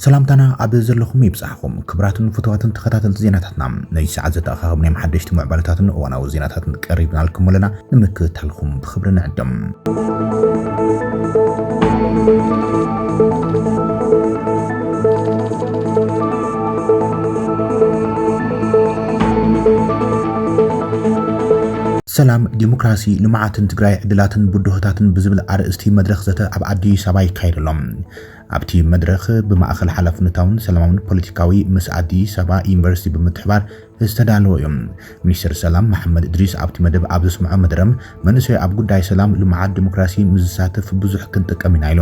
ሰላምታና ኣብ ዘለኹም ይብጻሕኹም ክብራትን ፍትዋትን ተኸታተልቲ ዜናታትና ነዚ ሰዓት ዘተኣኻኸብናዮም ሓደሽቲ ምዕባለታትን እዋናዊ ዜናታትን ቀሪብናልኩም ኣለና። ንምክትታልኩም ብኽብሪ ንዕድም። ሰላም ዲሞክራሲ ልምዓትን ትግራይ ዕድላትን ብድሆታትን ብዝብል ኣርእስቲ መድረኽ ዘተ ኣብ ኣዲስ ኣበባ ይካየድ ኣሎ። ኣብቲ መድረኽ ብማእኸል ሓላፍነታውን ሰላማውን ፖለቲካዊ ምስ ኣዲስ ኣበባ ዩኒቨርሲቲ ብምትሕባር ዝተዳለወ እዩ። ሚኒስተር ሰላም መሓመድ እድሪስ ኣብቲ መደብ ኣብ ዘስመዖ መደረ፣ መንእሰይ ኣብ ጉዳይ ሰላም፣ ልምዓት፣ ዲሞክራሲ ምስ ዝሳተፍ ብዙሕ ክንጥቀም ኢና ኢሉ።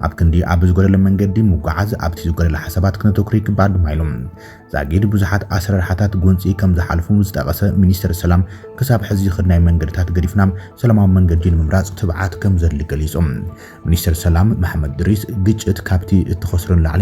ኣብ ክንዲ ኣብ ዝጎደለ መንገዲ ምጉዓዝ፣ ኣብቲ ዝጎደለ ሓሳባት ክነተኩር ይግባእ ድማ ኢሉ። ዛጊድ ብዙሓት ኣሰራርሓታት ጎንጺ ከም ዝሓለፉ ዝጠቐሰ ሚኒስተር ሰላም፣ ክሳብ ሕዚ ዝኸድናዮ መንገድታት ገዲፍና ሰላማዊ መንገዲ ንምምራጽ ትብዓት ከም ዘድሊ ገሊጹ። ሚኒስተር ሰላም መሓመድ እድሪስ፣ ግጭት ካብቲ እትኸስሮ ንላዕሊ፣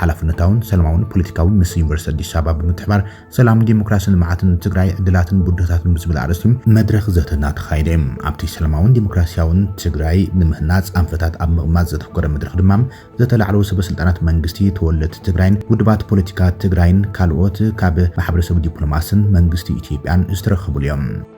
ሓላፍነታውን ሰላማውን ፖለቲካዊ ምስ ዩኒቨርሲቲ ኣዲስ ኣበባ ብምትሕባር ሰላም፣ ዴሞክራሲን ልምዓትን ንትግራይ ዕድላትን ብድሆታትን ብዝብል ኣርእስቲ መድረኽ ዘተ እናተኻየደ እዩ። ኣብቲ ሰላማውን ዴሞክራሲያውን ትግራይ ንምህናፅ ኣንፈታት ኣብ ምቕማጥ ዘተኮረ መድረኽ ድማ ዘተ ላዕለዎት ሰበስልጣናት መንግስቲ፣ ተወለድቲ ትግራይን ውድባት ፖለቲካ ትግራይን ካልኦት ካብ ማሕበረሰብ ዲፕሎማሲን መንግስቲ ኢትዮጵያን ዝተረኸብሉ እዩ።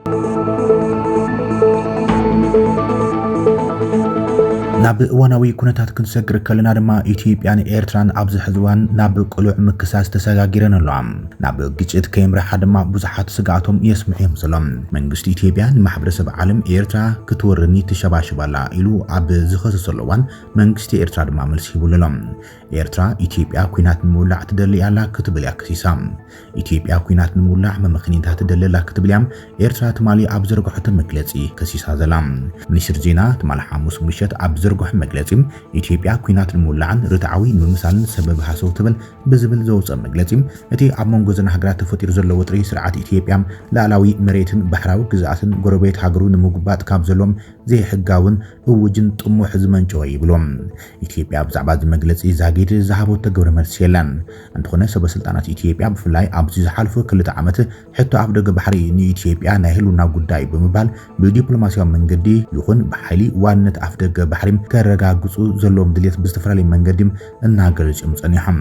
ናብ እዋናዊ ኩነታት ክንሰግር ከለና ድማ ኢትዮጵያን ኤርትራን ኣብዚ ሕዚ እዋን ናብ ቅሉዕ ምክሳስ ተሰጋጊረን ኣለዋ። ናብ ግጭት ከየምርሓ ድማ ብዙሓት ስግኣቶም የስምዑ እዮም ዘሎም። መንግስቲ ኢትዮጵያ ንማሕበረሰብ ዓለም ኤርትራ ክትወርኒ ትሸባሸብ ኣላ ኢሉ ኣብ ዝኸሰሰሉ እዋን መንግስቲ ኤርትራ ድማ መልሲ ሂቡሉ ኣሎ። ኤርትራ ኢትዮጵያ ኲናት ንምውላዕ ትደሊ ኣላ ክትብል እያ ከሲሳ። ኢትዮጵያ ኲናት ንምውላዕ መመኽኒንታ ትደሊ ኣላ ክትብል እያ ኤርትራ ትማሊ ኣብ ዝዘርግሖቶ መግለጺ ከሲሳ ዘላ። ሚኒስትሪ ዜና ትማል ሓሙስ ምሸት ኣብ ዝዘርግሖ መግለጺ፣ ኢትዮጵያ ኲናት ንምውላዕን ርትዓዊ ንምምሳልን ሰበብ ሃሰው ትብል ብዝብል ዘውጽኦ መግለጺ፣ እቲ ኣብ መንጎ እዘን ሃገራት ተፈጢሩ ዘሎ ወጥሪ ስርዓት ኢትዮጵያ ልኣላዊ መሬትን ባሕራዊ ግዝኣትን ጎረቤት ሃገሩ ንምጉባጥ ካብ ዘሎዎም ዘይሕጋውን እዉጅን ጥሙሕ ዝመንጨወ ይብሉ። ኢትዮጵያ ብዛዕባ እዚ መግለጺ ዛጊድ ዝሃበቶ ግብረ መልሲ የለን። እንተኾነ ሰበስልጣናት ኢትዮጵያ ብፍላይ ኣብዚ ዝሓለፉ ክልተ ዓመት ሕቶ ኣፍደገ ባሕሪ ንኢትዮጵያ ናይ ህልውና ጉዳይ'ዩ ብምባል ብዲፕሎማስያዊ መንገዲ ይኹን ብሓይሊ ዋንነት ኣፍደገ ባሕሪ ከረጋግጹ ዘለዎም ድልየት ብዝተፈላለየ መንገዲ እናገለጹ'ዮም ጸኒሖም።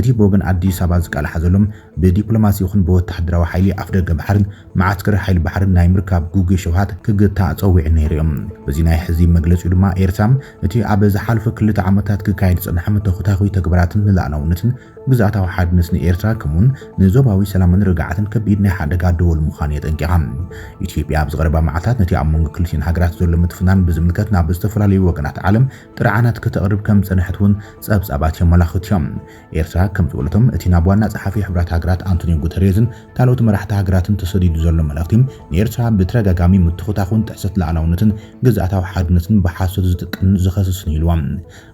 እቲ ብወገን ኣዲስ ኣበባ ዝቃላሓ ዘሎ ብዲፕሎማሲ ይኹን ብወተሃደራዊ ሓይሊ ኣፍደገ ባሕርን መዓስከር ሓይሊ ባሕርን ናይ ምርካብ ግጉይ ሽብሃት ክግታእ ጸዊዑ ነይሩ እዩ። በዚ ናይ ሕዚ መግለጺኡ ድማ ኤርትራ እቲ ኣብ ዝሓለፉ ክልተ ዓመታት ክካየድ ዝጸንሐ መተኹታኹይ ተግባራትን ንላእላውነትን ግዝኣታዊ ሓድነትን ኤርትራ ከምኡውን ንዞባዊ ሰላምን ርግዓትን ከቢድ ናይ ሓደጋ ደወል ምዃኑ የጠንቂቓ። ኢትዮጵያ ኣብዚ ቀረባ መዓልታት ነቲ ኣብ መንጎ ክልቲኤን ሃገራት ዘሎ ምትፍናን ብዝምልከት ናብ ዝተፈላለዩ ወገናት ዓለም ጥርዓናት ከተቕርብ ከም ዝጸንሐት እውን ጸብጻባት የመላኽቱ እዮም። ኤርትራ ከም ዝበለቶም እቲ ናብ ዋና ጸሓፊ ሕቡራት ሃገራት ኣንቶንዮ ጉተሬዝን ካልኦት መራሕቲ ሃገራትን ተሰዲዱ ዘሎ መልእኽቲ ንኤርትራ ብተደጋጋሚ ምትኹታኹን ጥሕሰት ልኣላውነትን ግዝኣታዊ ሓድነትን ብሓሶት ዝጥቀምን ዝኸስስን ኢልዎም።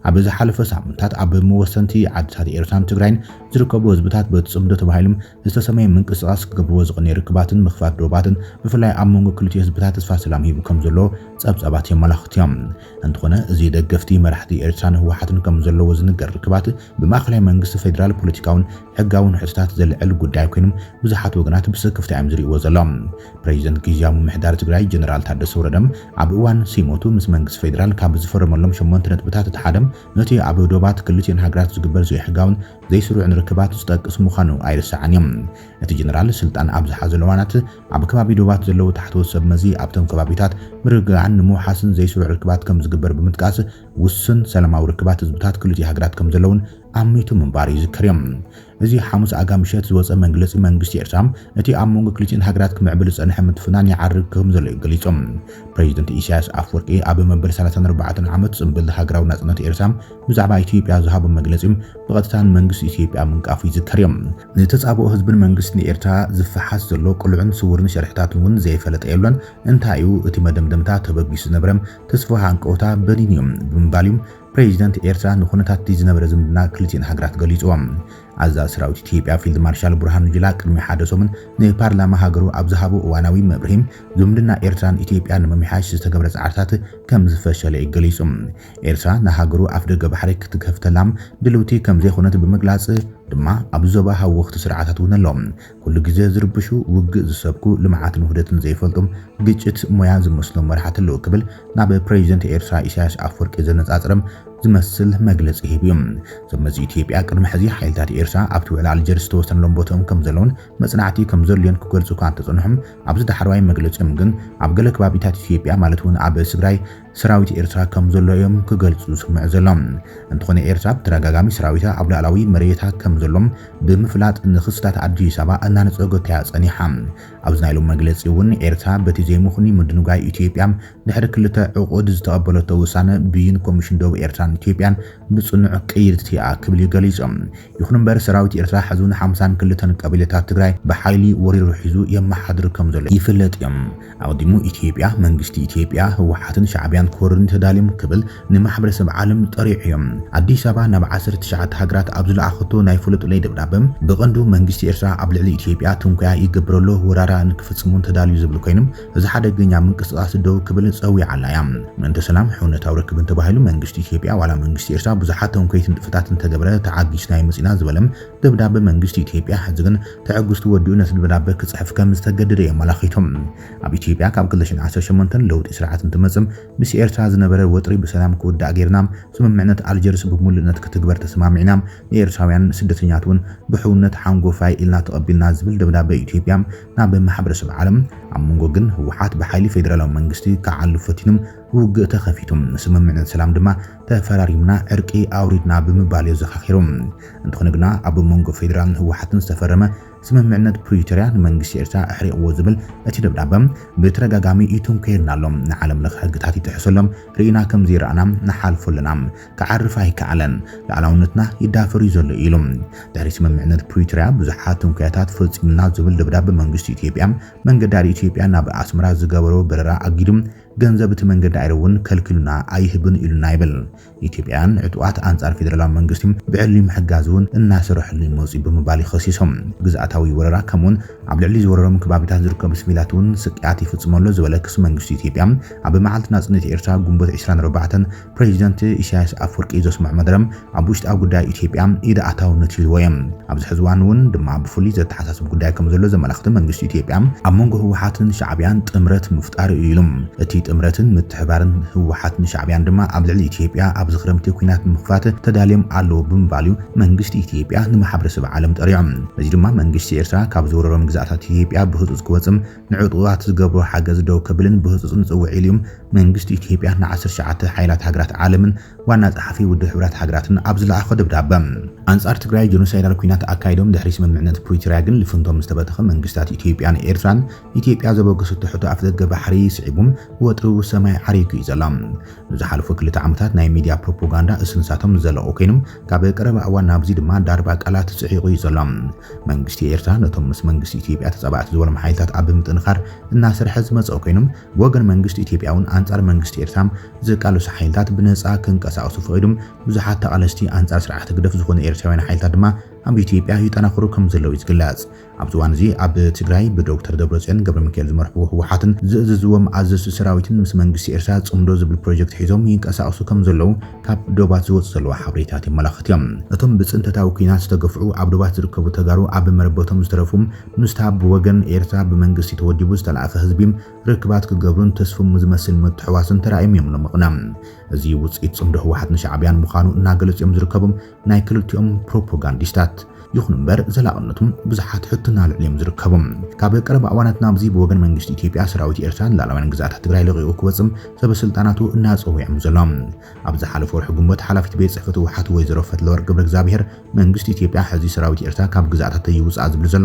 ኣብ ዝሓለፈ ሳምንታት ኣብ መወሰንቲ ዓድታት ኤርትራን ትግራይን ዝርከቡ ህዝብታት በቲ ጽምዶ ተባሂሎም ዝተሰመየ ምንቅስቓስ ክገብርዎ ዝቐንየ ርክባትን ምኽፋት ዶባትን ብፍላይ ኣብ መንጎ ክልቲኡ ህዝብታት ተስፋ ሰላም ሂቡ ከምዘሎ ጸብጻባት የመላኽቱ እዮም። እንተኾነ እዚ ደገፍቲ መራሕቲ ኤርትራን ህወሓትን ከምዘለዎ ዝንገር ርክባት ብማእኸላይ መንግስቲ ፌደራል ፖለቲካውን ሕጋውን ሕቶታት ዘልዕል ጉዳይ ኮይኑም ብዙሓት ወገናት ብስክፍታ እዮም ዝርእይዎ ዘሎም። ፕሬዚደንት ጊዚያዊ ምምሕዳር ትግራይ ጀነራል ታደሰ ወረደም ኣብ እዋን ሲሞቱ ምስ መንግስቲ ፌደራል ካብ ዝፈረመሎም ሸሞንተ ነጥብታት እቲ ሓደም ነቲ ኣብ ዶባት ክልቲኤን ሃገራት ዝግበር ዘይሕጋውን ዘይስሩዕን ርክባት ዝጠቅስ ምዃኑ ኣይርሳዕን እዩ። እቲ ጀነራል ስልጣን ኣብ ዝሓዘሉ እዋናት፣ ኣብ ከባቢ ዶባት ዘለዉ ታሕተዎት ሰብመዚ ኣብቶም ከባቢታት ምርግጋዕን ንምውሓስን ዘይስሩዕ ርክባት ከም ዝግበር ብምጥቃስ፣ ውሱን ሰላማዊ ርክባት ህዝብታት ክልቲኡ ሃገራት ከም ዘሎ'ውን ኣሚቱ ምንባሩ ይዝከር እዩ። እዚ ሓሙስ ኣጋ ምሸት ዝወጸ መግለጺ መንግስቲ ኤርትራ፣ እቲ ኣብ መንጎ ክልቲኤን ሃገራት ክምዕብል ዝጸንሐ ምትፍናን ይዓርግ ከም ዘሎ እዩ ገሊጹ። ፕረዚደንት ኢሳይያስ ኣፍወርቂ ኣብ መበል ሰላሳን ኣርባዕተን ዓመት ጽምብል ሃገራዊ ናጽነት ኤርትራ፣ ብዛዕባ ኢትዮጵያ ዝሃቦ መግለጺ ብቐጥታ ንመንግስቲ ኢትዮጵያ ምንቃፉ ይዝከር እዩ። ንተጻብኦ ህዝብን መንግስትን ኤርትራ ዝፈሓስ ዘሎ ቅሉዕን ስዉርን ሸርሒታት እውን ዘይፈለጠ የሎን። እንታይ እዩ እቲ መደምደምታ ተበጊሱ ዝነበረ ተስፋዊ ሃንቀውታ በኒኑ እዩ ብምባል እዩ ፕረዚደንት ኤርትራ ንኩነታት'ቲ ዝነበረ ዝምድና ክልቲኤን ሃገራት ገሊጹዎ። ኣዛዚ ሰራዊት ኢትዮጵያ ፊልድ ማርሻል ብርሃኑ ጁላ ቅድሚ ሓደ ሰሙን ንፓርላማ ሃገሩ ኣብ ዝሃቦ እዋናዊ መብርሂ ዝምድና ኤርትራን ኢትዮጵያን ንምምሕያሽ ዝተገብረ ጻዕርታት ከምዝፈሸለ እዩ ገሊጹ። ኤርትራ ንሃገሩ ኣፍደገ ባሕሪ ክትከፍተላ ድልውቲ ከምዘይኮነት ብምግላጽ ድማ ኣብዚ ዞባ ሃወኽቲ ስርዓታት እውን ኣሎ። ኩሉ ግዜ ዝርብሹ፣ ውግእ ዝሰብኩ፣ ልምዓትን ውህደትን ዘይፈልጡ፣ ግጭት ሞያ ዝመስሎም መራሕቲ ኣለዉ ክብል ናብ ፕረዚደንት ኤርትራ ኢሳያስ ኣፍወርቂ ዘነጻጸረ ዝመስል መግለጺ ሂቡ እዩ። እዞም መዚ ኢትዮጵያ ቅድሚ ሕዚ ሓይልታት ኤርትራ ኣብቲ ውዕሊ ኣልጀርስ ዝተወሰነሎም ቦትኦም ከምዘለዉን መጽናዕቲ ከምዘድልዮን ክገልጹ እኳ እንተጸንሑ ኣብዚ ዳሕረዋይ መግለጺኦም ግን ኣብ ገለ ከባቢታት ኢትዮጵያ ማለት እውን ኣብ ትግራይ ሰራዊት ኤርትራ ከም ዘሎ እዮም ክገልጹ ዝስምዑ ዘሎ። እንተኾነ ኤርትራ ብተደጋጋሚ ሰራዊታ ኣብ ሉኣላዊ መሬታ ከም ዘሎ ብምፍላጥ ንክስታት ኣዲስ ኣበባ እናነጸጎታ እያ ጸኒሓ። ኣብዚ ናይ ሎሚ መግለጺ እውን ኤርትራ በቲ ዘይምኽኑይ ምድንጓይ ኢትዮጵያ ድሕሪ ክልተ ዕቑድ ዝተቐበለቶ ውሳነ ብይን ኮሚሽን ዶብ ኤርትራን ኢትዮጵያን ብጽኑዕ ቅይድቲ እያ ክብል እዩ ገሊጹ። ይኹን እምበር ሰራዊት ኤርትራ ሕዚ ውን ሓምሳን ክልተን ቀቢላታት ትግራይ ብሓይሊ ወሪሩ ሒዙ የመሓድር ከም ዘሎ ይፍለጥ እዩ። ኣቕዲሙ ኢትዮጵያ፣ መንግስቲ ኢትዮጵያ፣ ህወሓትን ሻዕቢያን ክወሩኒ ተዳልዮም ክብል ንማሕበረሰብ ዓለም ጠሪዑ'ዩ። ኣዲስ ኣበባ ናብ ዓሰርተ ትሽዓተ ሃገራት ኣብ ዝለኣኸቶ ናይ ፍለጡለይ ደብዳበ፣ ብቐንዱ መንግስቲ ኤርትራ ኣብ ልዕሊ ኢትዮጵያ ትንኮያ ይገብር'ሎ፣ ወራራ ንክፍጽም'ውን ተዳልዩ ዝብል ኮይኑ፣ እዚ ሓደገኛ ምንቅስቓስ ደው ክብል ጸዊዓላ'ያ። ምእንተ ሰላም፣ ሕውነታዊ ርክብን ተባሂሉ መንግስቲ ኢትዮጵያ ዋላ መንግስቲ ኤርትራ ብዙሓት ተንኮይትን ንጥፈታትን እንተገበረ ተዓጊስናዮ መጺእና ዝበለ ደብዳበ መንግስቲ ኢትዮጵያ ሕዚ ግን ትዕግስቱ ወዲኡ ነቲ ደብዳበ ክጽሕፍ ከም ዝተገደደ እዮም ኣላኺቶም። ኣብ ኢትዮጵያ ካብ ክልተ ሽሕን ዓሰርተ ሸሞንተን ለውጢ ስርዓት እንትመጽም ምስ ኤርትራ ዝነበረ ወጥሪ ብሰላም ክውዳእ ጌርና፣ ስምምዕነት ኣልጀርስ ብምሉእነት ክትግበር ተሰማሚዕና፣ ንኤርትራውያን ስደተኛት እውን ብሕውነት ሓንጎፋይ ኢልና ተቐቢልና ዝብል ደብዳበ ኢትዮጵያ ናብ ማሕበረሰብ ዓለም ኣብ መንጎ ግን ህወሓት ብሓይሊ ፌደራላዊ መንግስቲ ክዓሉ ፈቲኑ ውግእ ተኸፊቱ። ስምምዕነት ሰላም ድማ ተፈራሪምና ዕርቂ ኣውሪድና ብምባልዮ ዘኻኺሩ። እንተኾነ ግና ኣብ መንጎ ፌዴራልን ህወሓትን ዝተፈረመ ስምምዕነት ፕሪቶርያ ንመንግስቲ ኤርትራ ኣሕሪቕዎ ዝብል እቲ ደብዳበ ብተደጋጋሚ ይትንኮየልና ኣሎ፣ ንዓለም ለኸ ሕግታት ይጥሕሱ ኣሎ፣ ርኢና ከምዘይረኣና ንሓልፎ ኣለና፣ ክዓርፍ ኣይከኣለን፣ ልኣላውነትና ይዳፈርዩ ዘሎ ኢሉ። ድሕሪ ስምምዕነት ፕሪቶርያ ብዙሓት ትንኮያታት ፈፂሙልና ዝብል ደብዳበ መንግስቲ ኢትዮጵያ መንገዲ ኣየር ኢትዮጵያ ናብ ኣስመራ ዝገበሮ በረራ ኣጊዱ ገንዘብ እቲ መንገዲ ኣይረ እውን ከልኪሉና ኣይህብን ኢሉና ይብል። ኢትዮጵያውያን ዕጡቓት ኣንፃር ፌደራላዊ መንግስቲ ብዕሊ ምሕጋዝ እውን እናሰርሐሉ እዩ መፂኡ ብምባል እዩ ኸሲሱ። ግዝኣታዊ ወረራ ከምኡ እውን ኣብ ልዕሊ ዝወረሮም ከባቢታት ዝርከቡ ስቪላት እውን ስቅያት ይፍፅሙ ኣሎ ዝበለ ክሲ መንግስቲ ኢትዮጵያ ኣብ መዓልቲ ናፅነት ኤርትራ ግንቦት ዕስራን ኣርባዕተን ፕረዚደንት ኢሳያስ ኣፍወርቂ ዘስምዖ መደረ ኣብ ውሽጣዊ ጉዳይ ኢትዮጵያ ኢድ ኣእታውነት ይህልዎ እየ። ኣብዚ ሕዚ እዋን እውን ድማ ብፍሉይ ዘተሓሳስብ ጉዳይ ከምዘሎ ዘመላኽት መንግስቲ ኢትዮጵያ ኣብ መንጎ ህወሓትን ሻዕቢያን ጥምረት ምፍጣሩ እዩ ኢሉ። እቲ ጥምረትን ምትሕብባርን ህወሓትን ሻዕቢያን ድማ ኣብ ልዕሊ ኢትዮጵያ ኣብዚ ክረምቲ ኲናት ንምኽፋት ተዳልዮም ኣለዉ ብምባል እዩ መንግስቲ ኢትዮጵያ ንማሕበረሰብ ዓለም ጠሪዑ። በዚ ድማ መንግስቲ ኤርትራ ካብ ዝወረሮም ግዝኣታት ኢትዮጵያ ብህፁፅ ክወፅእ ንዕጡቓት ዝገብሮ ሓገዝ ደው ከብልን ብህጹጽ ንጽውዕ ኢሉ'ዩ መንግስቲ ኢትዮጵያ ንዓሰርተ ትሽዓተ ሓይላት ሃገራት ዓለምን ዋና ጸሓፊ ውድብ ሕብራት ሃገራትን ኣብ ዝለኣኾ ደብዳበ። ኣንጻር ትግራይ ጀኖሳይዳል ኲናት ኣካይዶም ድሕሪ ስምምዕነት ፕሪቶርያ ግን ልፍንቶም ዝተበተኸ መንግስታት ኢትዮጵያን ኤርትራን ኢትዮጵያ ዘበገሰቶ ሕቶ ኣፍደገ ባሕሪ ስዒቡ ወጥሪ'ዉ ሰማይ ዓሪጉ'ዩ ዘሎ። ንዝሓለፉ ክልተ ዓመታት ናይ ሚድያ ፕሮፖጋንዳ እስንሳቶም ዝዘለቑ ኮይኖም ካብ ቀረባ እዋን ናብዚ ድማ ዳርባ ቃላት ፅዒቑ እዩ ዘሎ። መንግስቲ ኤርትራ ነቶም ምስ መንግስቲ ኢትዮጵያ ተፃባእቲ ዝበሎም ሓይልታት ኣብ ምጥንኻር እናሰርሐ ዝመፀ ኮይኑ ብወገን መንግስቲ ኢትዮጵያ እውን ኣንፃር መንግስቲ ኤርትራ ዝቃለሱ ሓይልታት ብነፃ ክንቀሳቐሱ ፈቒዱ ብዙሓት ተቓለስቲ ኣንፃር ስርዓት ህግደፍ ዝኾኑ ኤርትራውያን ሓይልታት ድማ ኣብ ኢትዮጵያ ይጠናኸሩ ከምዘለዉ እዩ ዝግለፅ። ኣብዚ እዋን እዚ ኣብ ትግራይ ብዶክተር ደብረፅዮን ገብረሚካኤል ዝመርሕዎ ህወሓትን ዝእዝዝዎም ኣዘዝቲ ሰራዊትን ምስ መንግስቲ ኤርትራ ፅምዶ ዝብል ፕሮጀክት ሒዞም ይንቀሳቐሱ ከምዘለዉ ካብ ዶባት ዝወፁ ዘለዉ ሓበሬታት የመላኽት እዮም። እቶም ብፅንተታዊ ኲናት ዝተገፍዑ ኣብ ዶባት ዝርከቡ ተጋሩ ኣብ መረበቶም ዝተረፉ ምስታ ብወገን ኤርትራ ብመንግስቲ ተወዲቡ ዝተላእከ ህዝቢ ርክባት ክገብሩን ተስፍሙ ዝመስል ምትሕውዋስን ተራእዮም እዮም ሎሚ ቕነ። እዚ ውፅኢት ፅምዶ ህወሓትን ሻዕብያን ምዃኑ እናገለፁ እዮም ዝርከቡ። ናይ ክልቲኦም ፕሮፖጋንዲስታት ይኹን እምበር ዘላቕነቱ ብዙሓት ሕቶ እናልዕሉ'ዮም ዝርከቡ። ካብ ቀረባ እዋናት ናብዚ ብወገን መንግስቲ ኢትዮጵያ ሰራዊት ኤርትራ ንላዕለዋይን ግዝኣታት ትግራይ ለቒቑ ክወጽእ ሰበስልጣናቱ እናጸውዔም ዘሎ። ኣብ ዝሓለፈ ወርሒ ግንቦት ሓላፊት ቤት ጽሕፈት ህወሓት ወይዘሮ ፈትለወርቅ ገብረእግዚኣብሄር መንግስቲ ኢትዮጵያ ሕዚ ሰራዊት ኤርትራ ካብ ግዝኣታተይ ይውጻእ ዝብል ዘሎ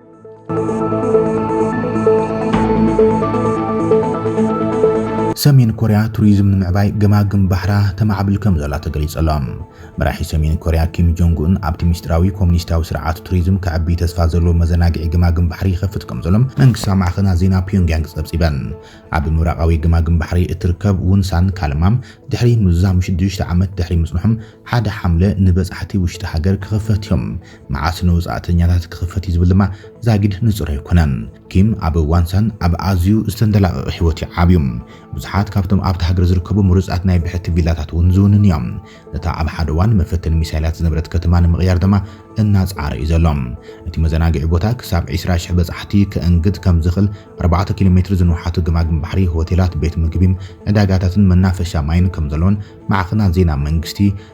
ሰሜን ኮርያ ቱሪዝም ንምዕባይ ገማግም ባሕራ ተማዕብል ከም ዘላ ተገሊጹ ኣሎ። መራሒ ሰሜን ኮርያ ኪም ጆንግ ኡን ኣብቲ ምስጢራዊ ኮሙኒስታዊ ስርዓት ቱሪዝም ከዕቢ ተስፋ ዘለዎ መዘናግዒ ገማግም ባሕሪ ይኸፍት ከም ዘሎ መንግስታዊ ማዕኸናት ዜና ፒዮንግያንግ ጸብጺበን። ኣብ ምብራቓዊ ገማግም ባሕሪ እትርከብ ውንሳን ካልማም ድሕሪ ምዝዛም ሽዱሽተ ዓመት ድሕሪ ምጽንሖም ሓደ ሓምለ ንበጻሕቲ ውሽጢ ሃገር ክኽፈት እዮም መዓስ ንወጻእተኛታት ክኽፈት እዩ ዝብል ድማ ዛጊድ ንጹር ኣይኰነን። ኪም ኣብ ዋንሳን ኣብ ኣዝዩ ዝተንደላቐቐ ህይወት እዩ ዓብዩ። ብዙሓት ካብቶም ኣብታ ሃገር ዝርከቡ ምሩጻት ናይ ብሕቲ ቪላታት እውን ዝውንን እዮም። ነታ ኣብ ሓደ እዋን መፈተኒ ሚሳይላት ዝነበረት ከተማ ንምቕያር ድማ እናጸዓረ እዩ ዘሎ። እቲ መዘናግዒ ቦታ ክሳብ ዕስራ ሽሕ በጻሕቲ ከእንግድ ከም ዝኽእል ኣርባዕተ ኪሎ ሜትር ዝንውሓቱ ገማግም ባሕሪ፣ ሆቴላት፣ ቤት ምግቢ፣ ዕዳጋታትን መናፈሻ ማይን ከም ዘለዎን ማዕከናት ዜና መንግስቲ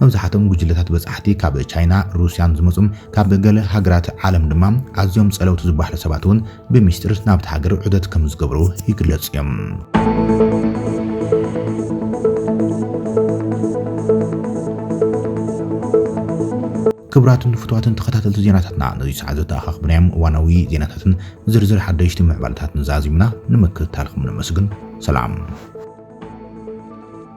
መብዛሕትኦም ጉጅለታት በጻሕቲ ካብ ቻይና፣ ሩስያን ዝመጹም ካብ ገለ ሃገራት ዓለም ድማ ኣዝዮም ጸለውቲ ዝበሃሉ ሰባት እውን ብሚስጢር ናብታ ሃገር ዑደት ከም ዝገብሩ ይግለጹ እዮም። ክቡራትን ፍቱዋትን ተኸታተልቲ ዜናታትና ነዚ ሰዓት ዘተኣኻኽብናዮም እዋናዊ ዜናታትን ዝርዝር ሓደሽቲ ምዕባለታትን ዛዚምና ንምክትታልኩም ነመስግን። ሰላም